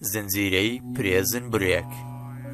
زنجیرەی پرێزن برێک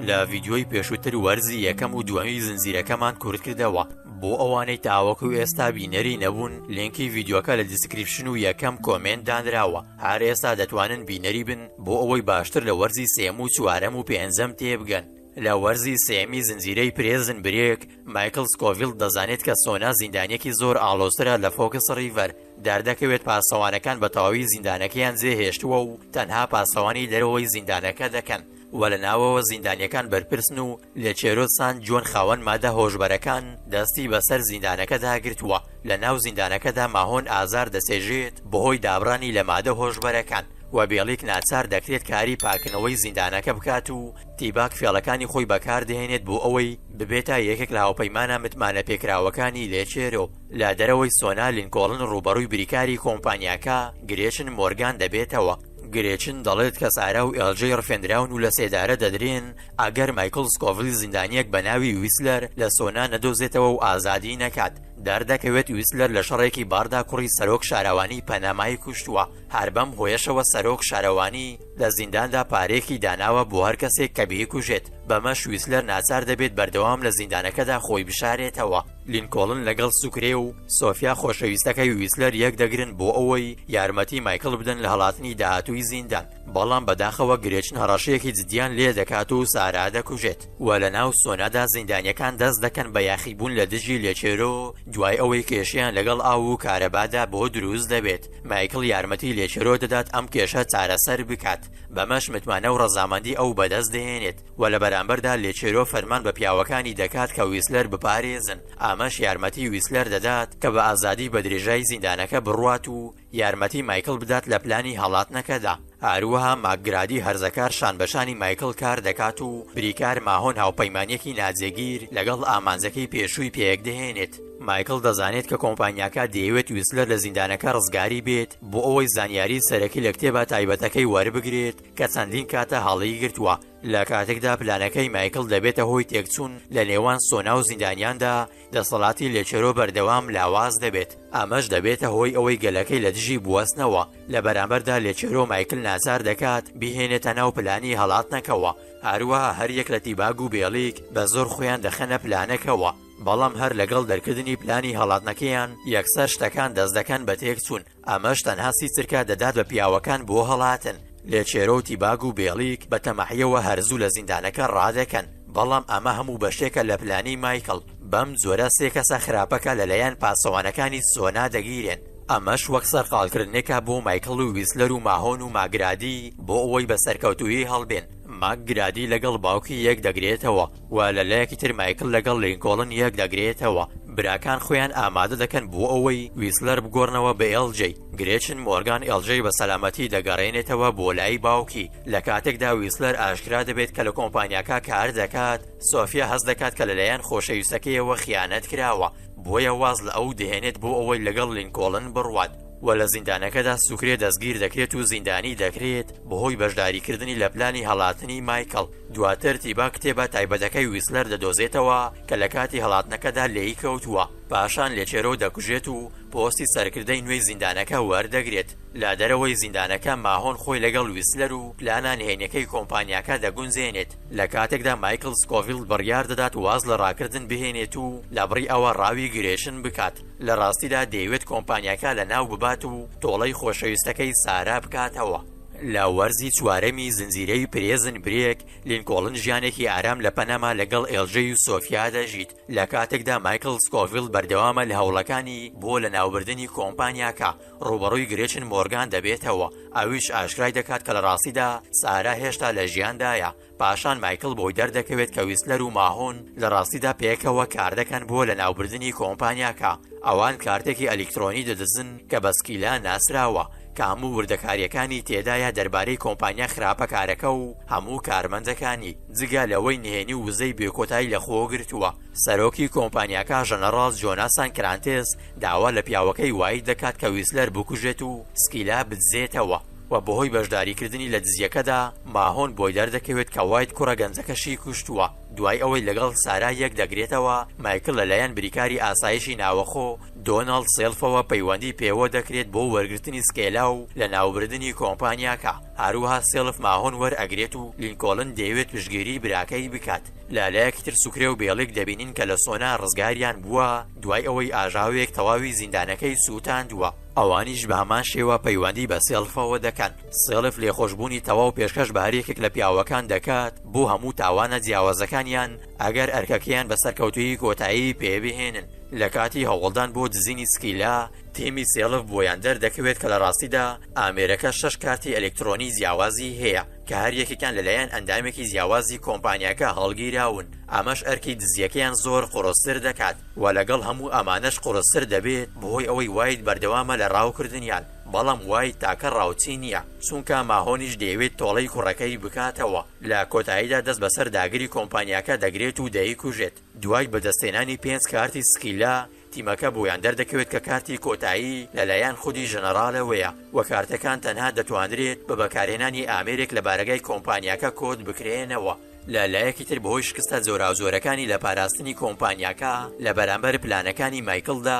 لە ڤیدیۆی پێشووتر وەرزی یەکەم و دووەمی زنجیرەکەمان کورت کردەوە بۆ ئەوانەی تاوەکو و ئێستا بینەری نەبوون لینکی ڤیددیوکە لە دیسکریپشن و یەکەم کۆمێنت دانراوە هەر ئێستا دەتوانن بینەری بن بۆ ئەوەی باشتر لە وەرزی سێم و چوارەم و پێنجەم تێبگەن لە وەرزی سێیەمی زنجیرەی پرێزن برێک، مایکڵ سکۆڤیڵ دەزانێت کە سۆنا زیندانییەکی زۆر ئاڵۆزترە لە فۆکس ڕیڤەر، دەردەکەوێت پاسەوانەکان بە تەواوی زیندانەکەیان جێهێشتووە و تەنها پاسەوانی دەرەوەی زیندانەکە دەکەن و لە ناوەوە زیندانییەکان بەرپرسن و لێچێرۆ سان جۆن خاوەن مادە هۆشبەرەکان دەستی بەسەر زیندانەکەدا گرتووە لە ناو زیندانەکەدا ماهۆن ئازار دەچێژێت بەهۆی دابڕانی لە مادە هۆشبەرەکان و بێڵیک ناچار دەکرێت کاری پاککردنەوەی زیندانەکە بکات و تیباک فێڵەکانی خۆی بەکاردەهێنێت بۆ ئەوەی ببێتە یەکێک لە هاوپەیمانە متمانەپێکراوەکانی لێچێرۆ، لە دەرەوەی سۆنا لینکۆڵن ڕووبەڕووی بریکاری کۆمپانیاکە گرێچن مۆرگان دەبێتەوە، گرێچن دەڵێت کە سارا و ئێڵجەی ڕفێندراون و لەسێدارە دەدرێن ئەگەر مایکڵ سکۆڤیل زیندانییەک بە ناوی ویسلەر لە سۆنا نەدۆزێتەوە و ئازادی نەکات، دەردەکەوێت ویسلەر لە شەڕێکی باردا کوڕی سەرۆک شارەوانی پەنەمای کوشتووە، هەر بەم هۆیەشەوە سەرۆک شارەوانی. لە زینداندا پارەیەکی داناوە بۆ هەر کەسێک کە بیکوژێت، بەمەش ویسلەر ناچار دەبێت بەردەوام لە زیندانەکەدا خۆی بشارێتەوە. لینکۆڵن لەگەڵ سوکرێ و سۆفیا خۆشەویستەکەی ویسلەر یەکدەگرن بۆ ئەوەی یارمەتی مایکڵ بدەن لە هەڵاتنی داهاتووی زیندان، بەڵام بەداخەوە گرێچن هەڕەشەیەکی جددیان لێدەکات و سارا دەکوژێت و لەناو سۆنادا زیندانیەکان دەست دەکەن بە یاخیبوون لە دژی لێچێرۆ دوای ئەوەی کێشەیان لەگەڵ ئاو و کارەبادا بۆ دروست دەبێت. مایکڵ یارمەتی لێچرۆ دەدات ئەم کێشە چارەسەر بکات، بەمەش متمانە و ڕەزامەندی ئەو بەدەست دەهێنێت و لە بەرامبەردا لێچرۆ فەرمان بە پیاوەکانی دەکات کە ویسلەر بپارێزن، ئەمەش یارمەتی ویسلەر دەدات کە بە ئازادی بە درێژای زیندانەکە بڕوات و یارمەتی مایکڵ بدات لە پلانی هەڵاتنەکەدا. هەروەها ماکگرادی هەرزەکار شانبەشانی مایکڵ کار دەکات و بریکار ماهۆن هاوپەیمانییەکی ناجێگیر لەگەڵ ئامانجەکەی پێشووی پێکدەهێنێت. مایکڵ دەزانێت کە کۆمپانیاکە دەیەوێت ویسلەر لە زیندانەکە ڕزگاری بێت بۆ ئەوەی زانیاری سەرەکی لە کتێبە تایبەتەکەی وەربگرێت کە چەندین کاتە هەڵیگرتووە، لە کاتێکدا پلانەکەی مایکڵ دەبێتە هۆی تێکچوون لە نێوان سۆنا و زیندانیاندا، دەسەڵاتی لێچەرۆ بەردەوام لاواز دەبێت، ئەمەش دەبێتە هۆی ئەوەی گەلەکەی لە دژی بوەستنەوە، لە بەرامبەردا لێچەرۆ مایکل ناچار دەکات بیهێنێتە ناو پلانی هەڵاتنەکەوە، هەروەها هەریەک لە تیباگ و بێڵیگ بە زۆر خۆیان دەخەنە پلانەکەوە، بەڵام هەر لەگەڵ دەرکردنی پلانی هەڵاتنەکەیان یەکسەر شتەکان دەست دەکەن بە تێکچوون. ئەمەش تەنها سی چرکە دەدات بە پیاوەکان بۆ هەڵاتن، لێ چێرۆ و تیباگ و بێڵیک بە تەماحیەوە هەر زوو لە زیندانەکە ڕادەکەن، بەڵام ئەمە هەموو بەشێکە لە پلانی مایکڵ، بەم جۆرە سێ کەسە خراپەکە لە لایەن پاسەوانەکانی سۆنا دەگیرێن، ئەمەش وەک سەرقاڵکردنێکە بۆ مایکڵ و ویسلەر و ماهۆن و ماگرادی بۆ ئەوەی بە سەرکەوتوویی هەڵبێن، ماک گرادی لەگەڵ باوکی یەک دەگرێتەوە، و لە لایەکی تر مایکل لەگەڵ لینکۆڵن یەک دەگرێتەوە براکان خۆیان ئامادە دەکەن بۆ ئەوەی ویسلەر بگۆڕنەوە بە ئێڵجەی گرێچن مۆرگان ئێڵجەی بە سەلامەتی دەگەڕێنێتەوە بۆ لای باوکی لە کاتێکدا ویسلەر ئاشکرا دەبێت کە لە کۆمپانیاکە کار دەکات سۆفیا هەست دەکات کە لەلایەن خۆشەویستەکەیەوە خیانەت کراوە بۆیە واز لە ئەو دەهێنێت بۆ ئەوەی لەگەڵ لینکۆڵن بڕوات و لە زیندانەکەدا سوکرێ دەستگیر دەکرێت و زیندانی دەکرێت بەهۆی بەشداریکردنی لە پلانی هەڵاتنی مایکل دواتر تیبا کتێبە تایبەتەکەی ویسلەر دەدۆزێتەوە کە لە کاتی هەڵاتنەکەدا لێی کەوتووە، پاشان لێچێرۆ دەکوژێت و پۆستی سەرکردەی نوێی زیندانەکە وەردەگرێت. لە دەرەوەی زیندانەکە ماهۆن خۆی لەگەڵ ویسلەر و پلانە نهێنیەکەی کۆمپانیاکە دەگونجێنێت، لە کاتێکدا مایکڵ سکۆفیڵد بڕیار دەدات واز لە ڕاکردن بهێنێت و لە بڕی ئەوە ڕاوی گرێشن بکات لە ڕاستیدا دەیەوێت کۆمپانیاکە لەناو ببات و تۆڵەی خۆشەویستەکەی سارا بکاتەوە. لە وەرزی چوارەمی زنجیرەی پرێزن برێک، لینکۆڵن ژیانێکی ئارام لە پەنەما لەگەڵ ئێلژەی و سۆفیا دەژیت، لە کاتێکدا مایکڵ سکۆفیڵد بەردەوامە لە هەوڵەکانی بۆ لەناوبردنی کۆمپانیاکە، ڕووبەڕووی گرێچن مۆرگان دەبێتەوە، ئەویش ئاشکرای دەکات کە لە ڕاستیدا سارا هێشتا لە ژیاندایە. پاشان مایکڵ بۆی دەردەکەوێت کە ویسلەر و ماهۆن لە ڕاستیدا پێکەوە کاردەکەن بۆ لەناوبردنی کۆمپانیاکە، ئەوان کارتێکی ئەلیکترۆنی دەدزن کە بە سکیلا ناسراوە، کە هەموو وردەکارییەکانی تێدایە دەربارەی کۆمپانیا خراپەکارەکە و هەموو کارمەندەکانی، جگە لەوەی نهێنی و وزەی بێکۆتای لەخۆگرتووە. سەرۆکی کۆمپانیاکە ژەنەڕاڵ جۆناسان کرانتێس داوا لە پیاوەکەی وایت دەکات کە ویسلەر بکوژێت و سکیلا بدزێتەوە، و بەهۆی بەشداریکردنی لە دزیەکەدا ماهۆن بۆی دەردەکەوێت کە وایت کوڕە گەنجەکەشی کوشتووە، دوای ئەوەی لەگەڵ سارا یەکدەگرێتەوە، مایکڵ لەلایەن بریکاری ئاسایشی ناوەخۆ دۆناڵد سێلفەوە پەیوەندی پێوە دەکرێت بۆ وەرگرتنی سکێلا و لەناوبردنی کۆمپانیاکە، هەروەها سێلف ماهۆن وەرئەگرێت و لینکۆڵن دەیەوێت پشتگیری براکەی بکات، لەلایەکی تر سوکرێ و بێڵیک دەبینین کە لە سۆنا ڕزگاریان بووە دوای ئەوەی ئاژاوەیەک تەواوی زیندانەکەی سووتاندووە. ئەوانیش بە هەمان شێوە پەیوەندی بە سێڵفەوە دەکەن، سێڵف لێخۆشبوونی تەواو پێشکەش بە هەریەکێک لە پیاوەکان دەکات بۆ هەموو تاوانە جیاوازەکانیان ئەگەر ئەرکەکەیان بە سەرکەوتوویی کۆتایی پێبهێنن، لە کاتی هەوڵدان بۆ دزینی سکیلا، تیمی سێڵف بۆیان دەردەکەوێت کە لە ڕاستیدا ئامێرەکە شەش کارتی ئەلکترۆنی جیاوازی هەیە، کە هەر یەکێکیان لەلایەن ئەندامێکی جیاوازی کۆمپانیاکە هەڵگیراون، ئەمەش ئەرکی دزیەکەیان زۆر قورستر دەکات، وە لەگەڵ هەموو ئەمانەش قورستر دەبێت بەهۆی ئەوەی وایت بەردەوامە لە ڕاوکردنیان، بەڵام وایت تاکە ڕاوچی نیە، چونکا ماهۆنیش دەیەوێت تۆڵەی کوڕەکەی بکاتەوە، لە کۆتاییدا دەست بەسەر داگری کۆمپانیاکە دەگرێت و دەیکوژێت. دوای بەدەستهێنانی پێنج کارتی سکیلا، تیمەکە بۆیان دەردەکەوێت کە کارتی کۆتایی لەلایەن خودی ژەنەڕالەوەیە و کارتەکان تەنها دەتوانرێت بە بەکارهێنانی ئامێرێک لە بارەگای کۆمپانیاکە کۆد بکرێنەوە. لە لایەکی تر بەهۆی شکستە جۆراوجۆرەکانی لە پاراستنی کۆمپانیاکە لە بەرامبەر پلانەکانی مایکڵدا،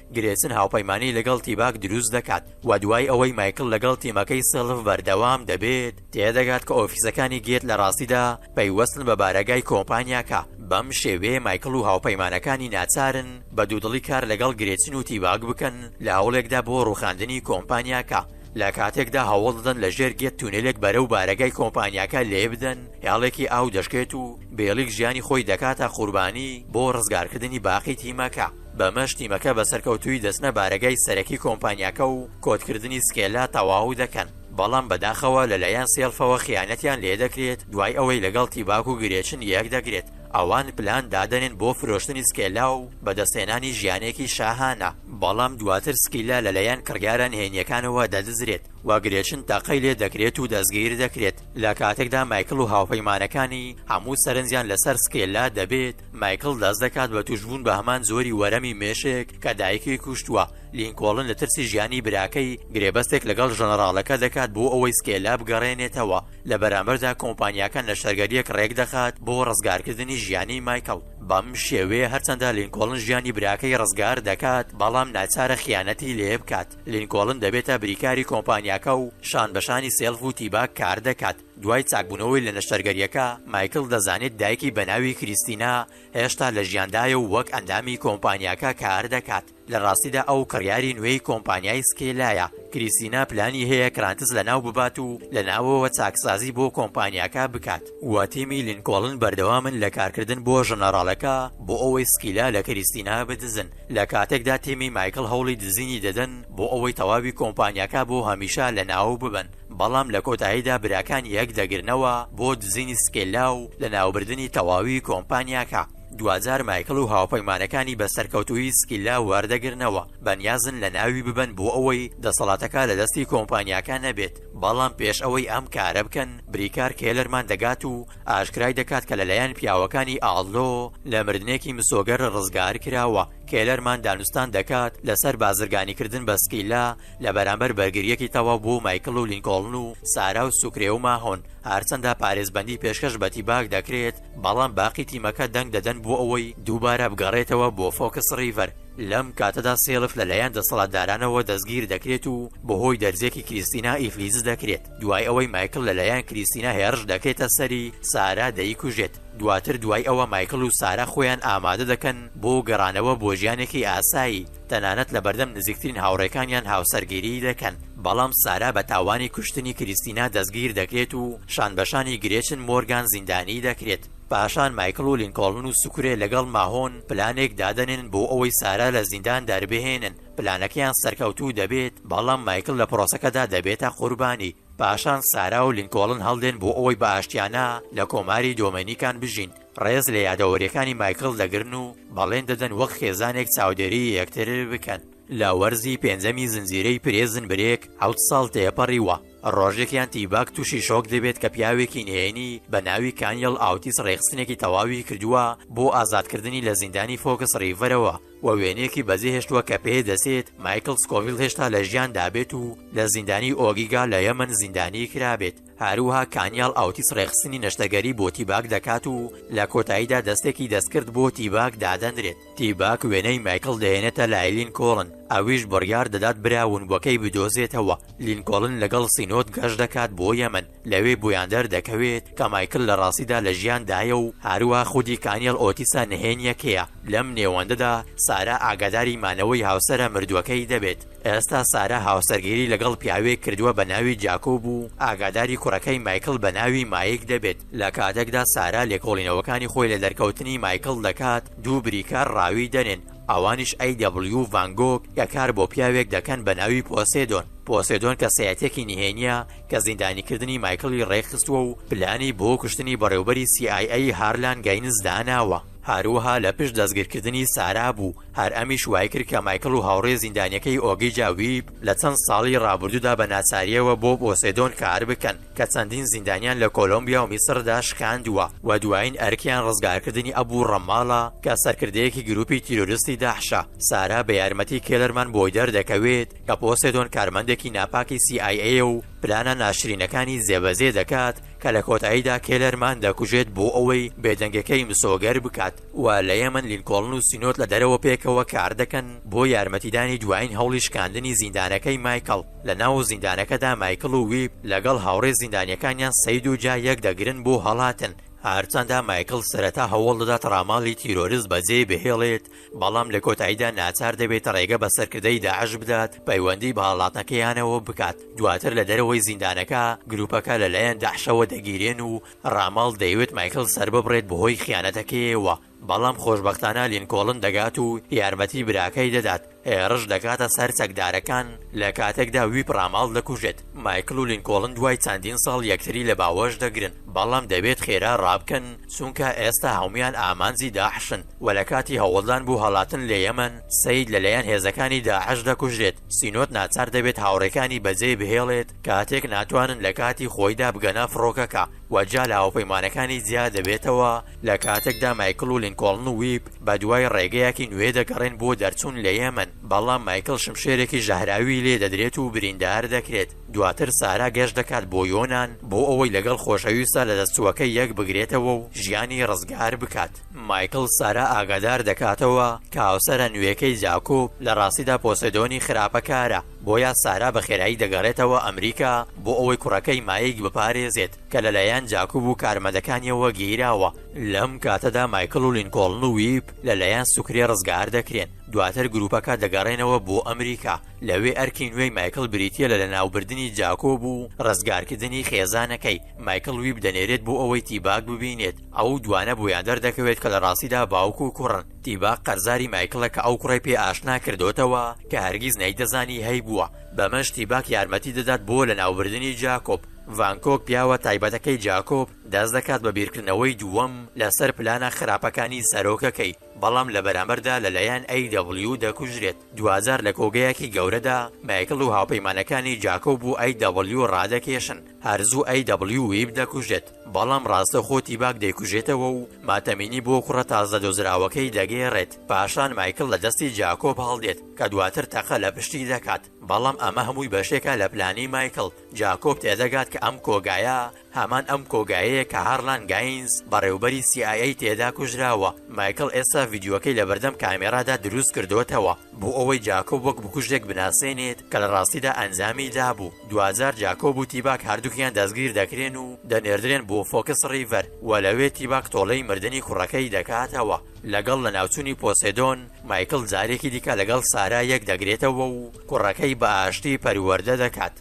گرێچن هاوپەیمانی لەگەڵ تیباک دروست دەکات و دوای ئەوەی مایکڵ لەگەڵ تیمەکەی سێڵڤ بەردەوام دەبێت، تێدەگات کە ئۆفیسەکانی گێت لە ڕاستیدا پەیوەستن بە بارەگای کۆمپانیاکە، بەم شێوەیە مایکڵ و هاوپەیمانەکانی ناچارن بە دوودڵی کار لەگەڵ گرێچن و تیباک بکەن لە هەوڵێکدا بۆ ڕووخاندنی کۆمپانیاکە، لە کاتێکدا هەوڵ دەدەن لە ژێر گێت تونێلێک بەرەو بارەگای کۆمپانیاکە لێبدەن، هێڵێکی ئاو دەشکێت و بێڵیک ژیانی خۆی دەکاتە قوربانی بۆ ڕزگارکردنی باقی تیمەکە. بەمەش تیمەکە بە سەرکەوتوویی دەچنە بارەگای سەرەکی کۆمپانیاکە و کۆدکردنی سکێلا تەواو دەکەن، بەڵام بەداخەوە لەلایەن سێڵفەوە خیانەتیان لێدەکرێت، دوای ئەوەی لەگەڵ تیباک و گرێچن یەکدەگرێت، ئەوان پلان دادەنێن بۆ فرۆشتنی سکێلا و بەدەستهێنانی ژیانێکی شاهانە، بەڵام دواتر سکیلا لەلایەن کڕیارە نهێنییەکانەوە دەدزرێت و گرێچن تەقەی لێدەکرێت و دەستگیردەکرێت، لەکاتێکدا مایکڵ و هاوپەیمانەکانی هەموو سەرنجیان لەسەر سکێلا دەبێت، مایکڵ دەست دەکات بە تووشبوون بە هەمان جۆری وەرەمی مێشێک کە دایکی کوشتووە، لینکۆڵن لە ترسی ژیانی براکەی، گرێبەستێک لەگەڵ ژەنەڕاڵەکە دەکات بۆ ئەوەی سکێلا بگەڕێنێتەوە، لە بەرامبەردا کۆمپانیاکە نەشتەرگەرییەک ڕێکدەخات بۆ ڕزگارکردنی ژیانی مایکڵ، بەم شێوەیە هەرچەندە لینکۆڵن ژیانی براکەی ڕزگار دەکات، بەڵام ناچارە خیانەتی لێبکات، لینکۆڵن دەبێتە بریکاری کۆمپانیاکە و شانبەشانی سێڵف و تیباک کاردەکات. دوای چاکبوونەوەی لە نەشتەرگەرییەکە، مایکڵ دەزانێت دایکی بە ناوی کریستینا هێشتا لە ژیاندایە و وەک ئەندامی کۆمپانیاکە کار دەکات، لە ڕاستیدا ئەو کڕیاری نوێی کۆمپانیای سکێلایە. کریستینا پلانی هەیە کرانتس لەناو ببات و لە ناوەوە چاکسازی بۆ کۆمپانیاکە بکات و تیمی لینکۆڵن بەردەوامن لە کارکردن بۆ ژەنەڕاڵەکە بۆ ئەوەی سکیلا لە کریستینا بدزن، لە کاتێکدا تیمی مایکڵ هەوڵی دزینی دەدەن بۆ ئەوەی تەواوی کۆمپانیاکە بۆ هەمیشە لەناو ببەن. بەڵام لە کۆتاییدا براکانی یەک دەگرنەوە بۆ دزینی سکێلا و لەناوبردنی تەواوی کۆمپانیاکە، دواجار مایکڵ و هاوپەیمانەکانی بە سەرکەوتوویی سکیلا وەردەگرنەوە، بەنیازن لەناوی ببەن بۆ ئەوەی دەسەڵاتەکە لە دەستی کۆمپانیاکە نەبێت، بەڵام پێش ئەوەی ئەم کارە بکەن بریکار کێلەرمان دەگات و ئاشکرای دەکات کە لەلایەن پیاوەکانی ئاڵۆ لە مردنێکی مسۆگەر ڕزگارکراوە، کێلەرمان دانوستان دەکات لەسەر بازرگانیکردن بە سکیلا، لە بەرامبەر بەرگرییەکی تەواو بۆ مایکڵ و لینکۆڵن و سارا و سوکرێ و ماهۆن، هەرچەندە پارێزبەندی پێشکەش بە تیباک دەکرێت، بەڵام باقی تیمەکە دەنگ دەدەن بۆ ئەوەی دووبارە بگەڕێتەوە بۆ فۆکس ڕیڤەر، لەم کاتەدا سێلف لەلایەن دەسەڵاتدارانەوە دەستگیر دەکرێت و بەهۆی دەرزییەکی کریستینا ئیفلیج دەکرێت، دوای ئەوەی مایکڵ لەلایەن کریستینا هێڕش دەکرێتە سەری، سارا دەیکوژێت، دواتر دوای ئەوە مایکڵ و سارا خۆیان ئامادە دەکەن بۆ گەڕانەوە بۆ ژیانێکی ئاسایی. تەنانەت لەبەردەم نزیکترین هاوڕێکانیان هاوسەرگیریی دەکەن، بەڵام سارا بە تاوانی کوشتنی کریستینا دەستگیر دەکرێت و شانبەشانی گرێچن مۆرگان زیندانیی دەکرێت. پاشان مایکڵ و لینکۆڵن و سوکرێ لەگەڵ ماهۆن پلانێک دادەنێن بۆ ئەوەی سارا لە زیندان دەربهێنن. پلانەکەیان سەرکەوتوو دەبێت، بەڵام مایکڵ لە پرۆسەکەدا دەبێتە قوربانی. پاشان سارا و لینکۆڵن هەڵدێن بۆ ئەوەی بە ئاشتیانە لە کۆماری دۆمێنیکان بژین. ڕێز لە یادەوەریەکانی مایکڵ دەگرن و بەڵێن دەدەن وەک خێزانێک چاودێری یەکتر بکەن. لە وەرزی پێنجەمی زنجیرەی پریزن برێک حەوت ساڵ تێپەڕیوە، ڕۆژێک یان تیباک تووشی شۆک دەبێت کە پیاوێکی نهێنی بە ناوی کانیڵ ئاوتیس ڕێکخستنێکی تەواوی کردووە بۆ ئازادکردنی لە زیندانی فۆکس ڕیڤەرەوە و وێنەیەکی بەجێهێشتووە کە پێدەچێت مایکڵ سکۆڤیڵ هێشتا لە ژیاندابێت و لە زیندانی ئۆگیگا لە یەمەن زیندانیکرابێت. هەروەها کانیاڵ ئاوتیس ڕێکخستنی نەشتەگەری بۆ تیباک دەکات و لە کۆتاییدا دەستێکی دەستکرد بۆ تیباک دادەنرێت تیباک وێنەی مایکڵ دەهێنێتە لای لینکۆڵن ئەویش بڕیار دەدات برا ونبووەکەی بدۆزێتەوە لینکۆڵن لەگەڵ سینۆد گەشت دەکات بۆ یەمەن لەوێ بۆیان دەردەکەوێت کە مایکل لە ڕاستیدا لە ژیاندایە و هەروە خودی کانیەڵ ئۆتیسە نهێنیەکەیە لەم نێوەندەدا سارا ئاگاداری مانەوەی هاوسەرە مردووەکەی دەبێت ئێستا سارا هاوسەرگیری لەگەڵ پیاوێک کردووە بە ناوی جاکۆب و ئاگاداری کوڕەکەی مایکڵ بە ناوی مایک دەبێت، لە کاتێکدا سارا لێکۆڵینەوەکانی خۆی لە دەرکەوتنی مایکڵ دەکات، دوو بریکار ڕاوی دەنێن، ئەوانیش ئەی دەبڵیو و ڤان گۆگ، کە کار بۆ پیاوێک دەکەن بە ناوی پۆسێدۆن. پۆسێدۆن کەسایەتییەکی نهێنییە کە زیندانیکردنی مایکڵی ڕێکخستووە و پلانی بۆ کوشتنی بەڕێوبەری سی ئای ئەی هارلان گەینز داناوە. هەروەها لە پشت دەستگیرکردنی سارا بوو، هەر ئەمیش وایکرد کە مایکڵ و هاوڕێ زیندانییەکەی ئۆگیجا ویب لە چەند ساڵی ڕابردوودا بە ناچارییەوە بۆ بۆسێدۆن کار بکەن، کە چەندین زیندانیان لە کۆلۆمبیا و میسردا شکاندووە و دوایین ئەرکیان ڕزگارکردنی ئەبو ڕەماڵە کە سەرکردەیەکی گرووپی تیرۆرستی داحشە. سارا بە یارمەتی کێلەرمان بۆی دەردەکەوێت کە پۆسێدۆن کارمەندێکی ناپاکی سی ئای ئەیە و پلانە ناشرینەکانی جێبەجێ دەکات، کە لە کۆتاییدا کێلەرمان دەکوژێت بۆ ئەوەی بێدەنگەکەی مسۆگەر بکات و لە یەمەن لینکۆڵن و سینۆد لە دەرەوە پێکەوە کار دەکەن بۆ یارمەتیدانی دوایین هەوڵی شکاندنی زیندانەکەی مایکڵ لە ناو زیندانەکەدا مایکڵ و ویپ لەگەڵ هاوڕێ زیندانیەکانیان سەید و جا یەک دەگرن بۆ هەڵاتن هەرچەندە مایکڵ سەرەتا هەوڵ دەدات ڕاماڵی تیرۆرست بەجێ بهێڵێت بەڵام لە کۆتاییدا ناچار دەبێت ڕێگە بە سەرکردەی داعش بدات پەیوەندی بە هەڵاتنەکەیانەوە بکات، دواتر لە دەرەوەی زیندانەکە گروپەکە لە لایەن داعشەوە دەگیرێن و ڕاماڵ دەیەوێت مایکڵ سەرببڕێت بەهۆی خیانەتەکەیەوە، بەڵام خۆشبەختانە لینکۆڵن دەگات و یارمەتی براکەی دەدات، هێڕش دەکاتە سەر چەکدارەکان، لە کاتێکدا ویپ ڕاماڵ دەکوژێت، مایکڵ و لینکۆڵن دوای چەندین ساڵ یەکتری لە باوەش دەگرن، بەڵام دەبێت خێرا ڕابکەن چونکە ئێستا هەموویان ئامانجی داعشن. و لە کاتی هەوڵدان بۆ هەڵاتن لە یەمەن، سەید لە لایەن هێزەکانی داعش دەکوژرێت، سینۆت ناچار دەبێت هاوڕێکانی بەجێی بهێڵێت کاتێک ناتوانن لە کاتی خۆیدا بگەنە فڕۆکەکە و جیا لە هاوپەیمانەکانی جیا دەبێتەوە، لە کاتێکدا مایکڵ و لینکۆڵن و ویپ بە دوای ڕێگەیەکی نوێ دەگەڕێن بۆ دەرچوون لە یەمەن، بەڵام مایکڵ شمشێرێکی ژەهراوی لێ دەدرێت و بریندار دەکرێت، دواتر سارا گەشت دەکات بۆ یۆنان بۆ ئەوەی لەگەڵ خۆشەویستە لەدەستچووەکەی یەکبگرێتەوە و ژیانی ڕزگار بکات. مایکڵ سارا ئاگادار دەکاتەوە کە هاوسەرە نوێکەی جاکوب لە ڕاستیدا پۆسێدۆنی خراپەکارە، بۆیە سارا بە خێرایی دەگەڕێتەوە ئەمریکا بۆ ئەوەی کوڕەکەی مایک بپارێزێت کە لەلایەن جاکوب و کارمەدەکانیەوە گیراوە. لەم کاتەدا مایکڵ و لینکۆڵن و ویپ لەلایەن سوکرێ ڕزگار دەکرێن، دواتر گروپەکە دەگەڕێنەوە بۆ ئەمریکا، لەوێ ئەرکی نوێی مایکڵ بریتییە لە لەناوبردنی جاکوب و ڕزگارکردنی خێزانەکەی، مایکڵ ویپ دەنێرێت بۆ ئەوەی تیباک ببینێت، ئەو دوانە بۆیان دەردەکەوێت کە لە ڕاستیدا باوک و کوڕن، تیباق قەرزاری مایکڵە کە ئەو کوڕەی پێ ئاشنا کردۆتەوە کە هەرگیز نەیدەزانی هەیبووە، بەمەش تیباق یارمەتی دەدات بۆ لەناوبردنی جاکۆب. ڤانکۆک پیاوە تایبەتەکەی جاکۆب دەست دەکات بە بیرکردنەوەی دووەم لەسەر پلانە خراپەکانی سەرۆکەکەی، بەڵام لە بەرامبەردا لەلایەن ئەی دەبڵیو دەکوژرێت، دواجار لە کۆگایەکی گەورەدا مایکڵ و هاوپەیمانەکانی جاکۆب بۆ ئەی دەبڵیو ڕادەکێشن، هەرزوو ئەی دەبڵیو ویب دەکوژێت، بەڵام ڕاستەوخۆ تیباک دەیکوژێتەوە و ماتەمینی بۆ کوڕە تازە دۆزراوەکەی دەگێڕێت، پاشان مایکڵ لە دەستی جاکۆب هەڵدێت کە دواتر تەقە لە پشتی دەکات، بەڵام ئەمە هەمووی بەشێکە لە پلانی مایکڵ، جاکۆب تێدەگات کە ئەم کۆگایە هەمان ئەم کۆگایەیە کە هارلان گاینز بەڕێوبەری سی ئای ئەی تێدا کوژراوە، مایکڵ ئێستا ڤیدیۆکەی لەبەردەم کامێرادا دروستکردۆتەوە. بۆ ئەوەی جاکۆب وەک بکوژێک بناسێنێت کە لە ڕاستیدا ئەنجامی دابوو، دواجار جاکۆب و تیباک هەردووکیان دەستگیر دەکرێن و دەنێردرێن بۆ فۆکس ڕیڤەر و لەوێ تیباک تۆڵەی مردنی کوڕەکەی دەکاتەوە لەگەڵ لەناوچوونی پۆسێدۆن مایکڵ جارێکی دیکە لەگەڵ سارا یەک دەگرێتەوە و کوڕەکەی بە ئاشتی پەروەردە دەکات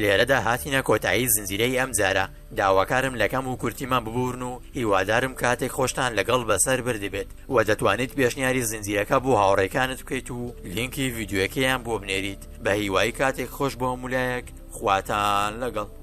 لێرەدا هاتینە کۆتایی زنجیرەی ئەمجارە. داواکارم لە کەم و کورتیمان ببورن و هیوادارم کاتێک خۆشتان لەگەڵ بەسەر بردبێت و دەتوانیت پێشنیاری زنجیرەکە بۆ هاوڕێکانت بکەیت و لینکی ڤیدیۆیەکەیان بۆ بنێریت بەهیوای کاتێک خۆش بۆ هەموولایەک خواتان لەگەڵ.